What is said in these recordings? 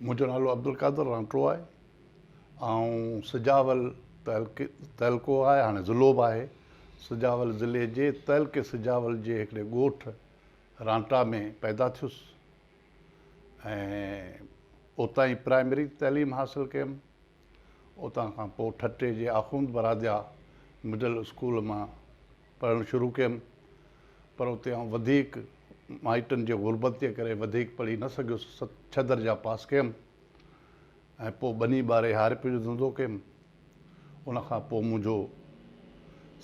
منهنجو نالو عبدالقادر رانٽو آهي آئون سجاول تعلقو آهي هاڻي ضلعو به آهي سجاول ضلعي جي تعلقي سجاول جي هڪڙي ڳوٺ رانٽا ۾ پيدا ٿيس ۽ اتان ئي پرائمري تعليم حاصل ڪيم اتان کان پوء ٺٽي جي آخوند براديا مڊل اسڪول مان پڙهڻ شروع ڪيم پر اتي آئون وڌيڪ مائٽن جي غربت جي ڪري وڌيڪ پڙهي نه سگهيس ست ڇهه درجا پاس ڪيم ۽ پوء ٻني ٻاري هارپي جو ڌنڌو ڪيم ان کان پوء منهنجو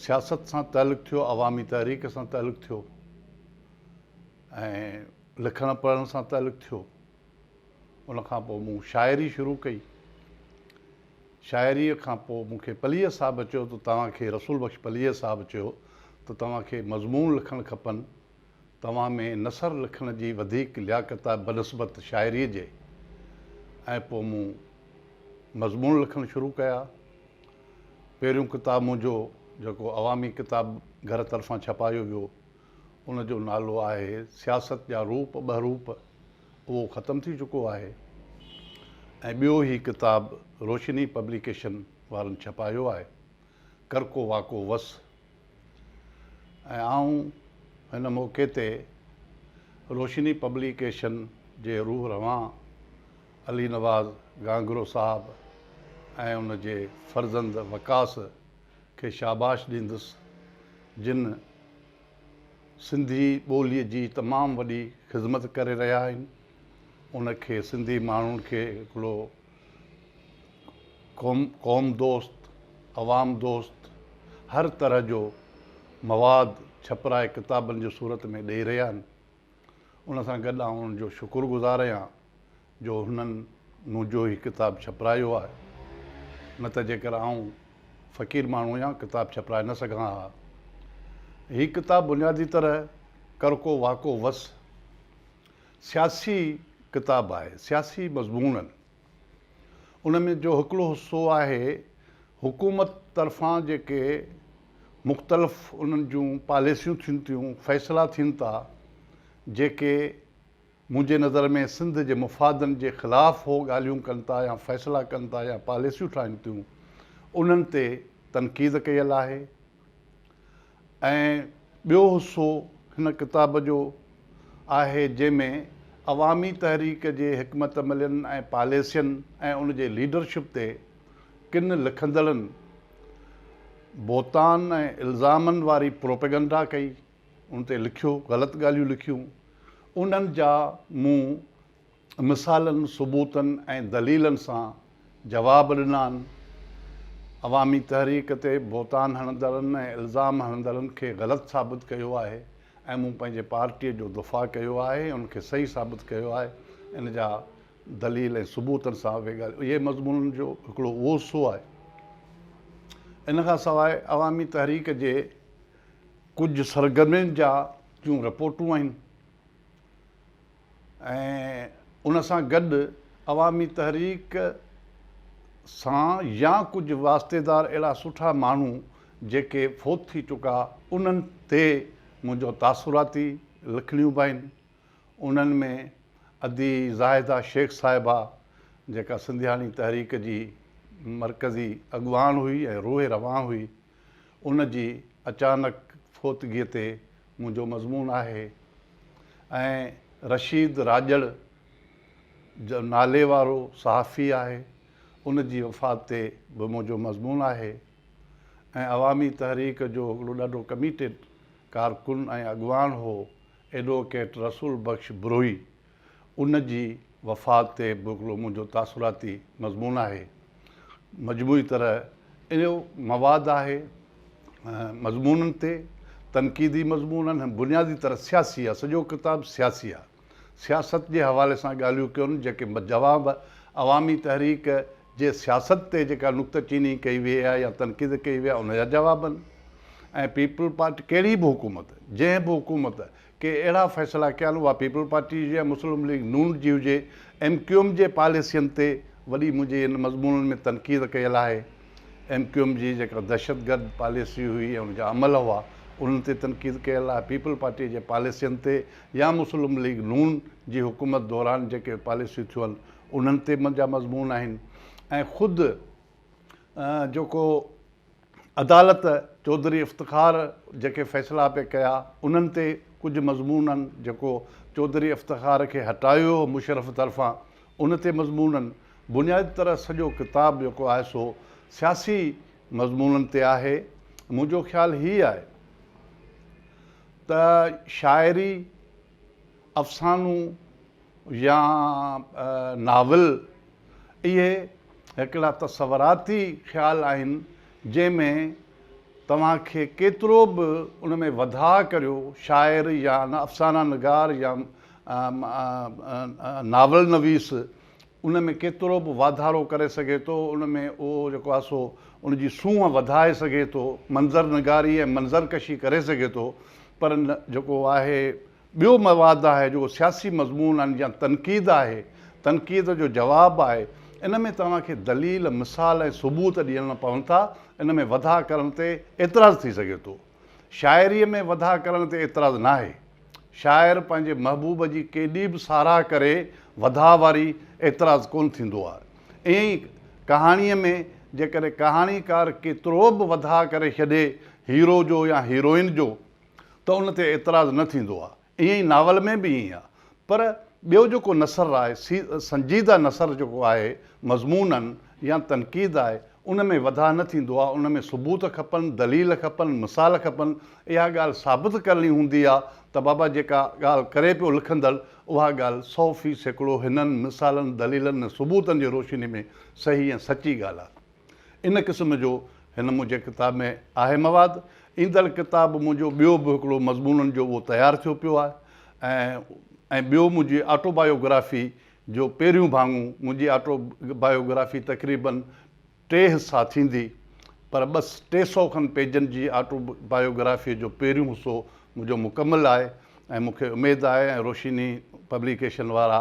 سياست سان تعلق ٿيو عوامي تحريڪ سان تعلق ٿيو ۽ لکڻ پڙهڻ سان تعلق ٿيو ان کان پوء مون شاعري شروع ڪئي. شاعريء کان پوء مون کي پليجي صاحب چيو ته توهان کي رسول بخش پليجي صاحب چيو ته توهان کي مضمون لکڻ کپن، توهان ۾ نثر لکڻ جي وڌيڪ لياقت آهي بنسبت شاعريء جي ۽ پوء مون مضمون لکڻ شروع ڪيا. پهريون ڪتاب منهنجو جيڪو عوامي ڪتاب گهر طرفان ڇپايو ويو. ان جو نالو آهي سياست جا روپ ٻهروپ، اهو ختم ٿي چڪو آهي ۽ ٻيو هي ڪتاب روشني پبليڪيشن وارن ڇپايو آهي، ڪرڪو واڪو وس ۽ آئون هن موقعي تي روشني پبليڪيشن جي روح روان علي نواز گانگرو صاحب ۽ ان جي فرزند وقاص کي شاباش ڏيندس جن سنڌي ٻولي جي تمام وڏي خدمت ڪري رهيا آهن ان کي سنڌي ماڻهن کي هڪڙو قوم دوست عوام دوست هر طرح جو مواد ڇپرائي ڪتابن جي صورت ۾ ڏئي رهيا آهن ان سان گڏ آئون ان جو شڪر گذار اهيان جو هنن مون جو هي ڪتاب ڇپرايو آهي، نه ته جيڪر آئون فقير ماڻهو هيان ڪتاب ڇپرائي نه سگهان ها. هي ڪتاب بنيادي طرح ڪرڪو واڪو وس سياسي ڪتاب آهي، سياسي مضمونن ان ۾ جو هڪڙو حصو آهي حڪومت طرفان جيڪي مختلف انهن جون پاليسيون ٿين ٿيون فيصلا ٿين ٿا جيڪي منهنجي نظر ۾ سنڌ جي مفادن جي خلاف هو ڳالهيون ڪن ٿا يا فيصلا ڪن ٿا يا پاليسيون ٺاهين ٿيون انهن تي تنقيد ڪيل آهي ۽ ٻيو حصو هن ڪتاب جو آهي جنهن ۾ عوامي تحريڪ جي حڪمت عملين ۽ پاليسين ۽ ان جي ليڊرشپ تي ڪن لکندڙن بهتان ۽ الزامن واري پروپيگنڊا ڪئي ان تي لکيو غلط ڳالهيون لکيون انهن جا مون مثالن، ثبوتن ۽ دليلن سان جواب ڏنا آھن. عوامي تحريڪ تي بھتان ھڻندڙن ۽ الزام ھڻندڙن کي غلط ثابت ڪيو آھي ۽ مون پنھنجي پارٽيء جو دفاع ڪيو آھي ۽ ان کي صحيح ثابت ڪيو آھي. ان جا دليل ۽ ثبوتن سان اھي ڳالھيون اھي مضمونن جو ھڪڙو اھو حصو آھي. ان کان سواء عوامي تحريڪ جي ڪجھ سرگرمين جا جون رپورٽون آھن. ۽ ان سان گڏ عوامي تحريڪ سان يا ڪجهه واسطيدار اهڙا سٺا ماڻهو جيڪي فوت ٿي چڪا انهن تي منهنجو تاثراتي لکڻيون به آهن انهن ۾ ادي زاهده شيخ صاحبه جيڪا سنڌياڻي تحريڪ جي مرڪزي اڳواڻ هئي ۽ روح روان هئي ان جي اچانڪ فوتگيء تي منهنجو مضمون آهي ۽ رشيد راڄڙ جو نالي وارو صحافي آهي، ان جي وفات تي به منهنجو مضمون آهي ۽ عوامي تحريڪ جو هڪڙو ڏاڍو ڪميٽيڊ ڪارڪن ۽ اڳواڻ هو ايڊووڪيٽ رسول بخش بروهي ان جي وفات تي به هڪڙو منهنجو تاثراتي مضمون آهي. مجموعي طرح اهو مواد آهي مضمونن تي، تنقيدي مضمون آهن ۽ بنيادي طرح سياسي آهي، سڄو ڪتاب سياسي آهي. سياست جي حوالي سان ڳالهيون ڪيون جيڪي جواب عوامي تحريڪ جي سياست تي جيڪا نڪته چيني ڪئي ويئي آهي يا تنقيد ڪئي ويئي آهي ان جا جواب آهن ۽ پيپلز پارٽي ڪهڙي به حڪومت جنهن به حڪومت ڪي اهڙا فيصلا ڪيل اها پيپلز پارٽي جي هجي، مسلم ليگ نون جي هجي، ايم ڪيو ايم جي پاليسين تي وڏي منهنجي ان مضمونن ۾ تنقيد ڪيل آهي. ايم ڪيو ايم جي جيڪا دهشتگرد پاليسي هئي ۽ ان جا عمل هئا انهن تي تنقيد ڪيل آهي. پيپلز پارٽي جي پاليسين تي يا مسلم ليگ نون جي حڪومت دوران جيڪي پاليسيون ٿيون انهن تي منهنجا مضمون آهن ۽ خود جيڪو عدالت چوڌري افتخار جيڪي فيصلا پئي ڪيا انهن تي ڪجهه مضمونن جيڪو چوڌري افتخار کي هٽايو هو مشرف طرفان ان تي مضمونن بنيادي طرح سڄو ڪتاب جيڪو آهي سو سياسي مضمونن تي آهي منهنجو خيال هي آهي ته شاعري افسانو يا ناول اهي هڪڙا تصوراتي خيال آهن جنهن ۾ توهان کي ڪيترو به ان ۾ وڌاء ڪريو شاعر يا افسانه نگار يا ناول نويس ان ۾ ڪيترو به واڌارو ڪري سگهي ٿو ان ۾ اهو جيڪو آهي سو ان جي سونهن وڌائي سگهي ٿو منظر نگاري ۽ منظر ڪشي ڪري سگهي ٿو پر جيڪو آهي ٻيو مواد آهي جيڪو سياسي مضمون آهن يا تنقيد آهي، تنقيد جو جواب آهي، ان ۾ توهان کي دليل، مثال ۽ ثبوت ڏيڻا پون ٿا، ان ۾ وڌاء ڪرڻ تي اعتراض ٿي سگهي ٿو. شاعريء ۾ وڌاء ڪرڻ تي اعتراض ناهي. شاعر پنهنجي محبوب جي ڪيڏي به ساراهه ڪري وڌاء واري اعتراض ڪونه ٿيندو آهي. ائين ئي ڪهاڻيء ۾ جيڪڏهن ڪهاڻيڪار ڪيترو به وڌاء ڪري ڇڏي هيرو جو يا هيروئن جو، ته ان تي اعتراض نه ٿيندو آ. ائين ئي ناول ۾ به ائين آ. پر ٻيو جيڪو نثر آهي سي سنجيده نثر جيڪو آهي مضموناً يا تنقيد آهي ان ۾ وڌاء نه ٿيندو آ ان ۾ ثبوت کپن، دليل کپن، مثال کپن. اها ڳالهه ثابت ڪرڻي هوندي آ ته بابا جيڪا ڳالهه ڪري پيو لکندڙ اها ڳالهه سؤ في سيڪڙو هنن مثالن، دليلن ۽ ثبوتن جي روشني ۾ صحيح ۽ سچي ڳالهه آ. ان قسم جو هن منهنجي ڪتاب ۾ آهي مواد. ايندڙ ڪتاب منهنجو ٻيو به هڪڙو مضمونن جو اهو تيار ٿيو پيو آهي ۽ ٻيو منهنجي آٽو بايو گرافي جو پهريون ڀاڱو. منهنجي آٽو بايو گرافي تقريباً ٽي حصا ٿيندي پر ٻه ٽي سئو کن پيجن جي آٽو بايو گرافيء جو پهريون حصو منهنجو مڪمل آهي ۽ مون کي اميد آهي ۽ روشني پبليڪيشن وارا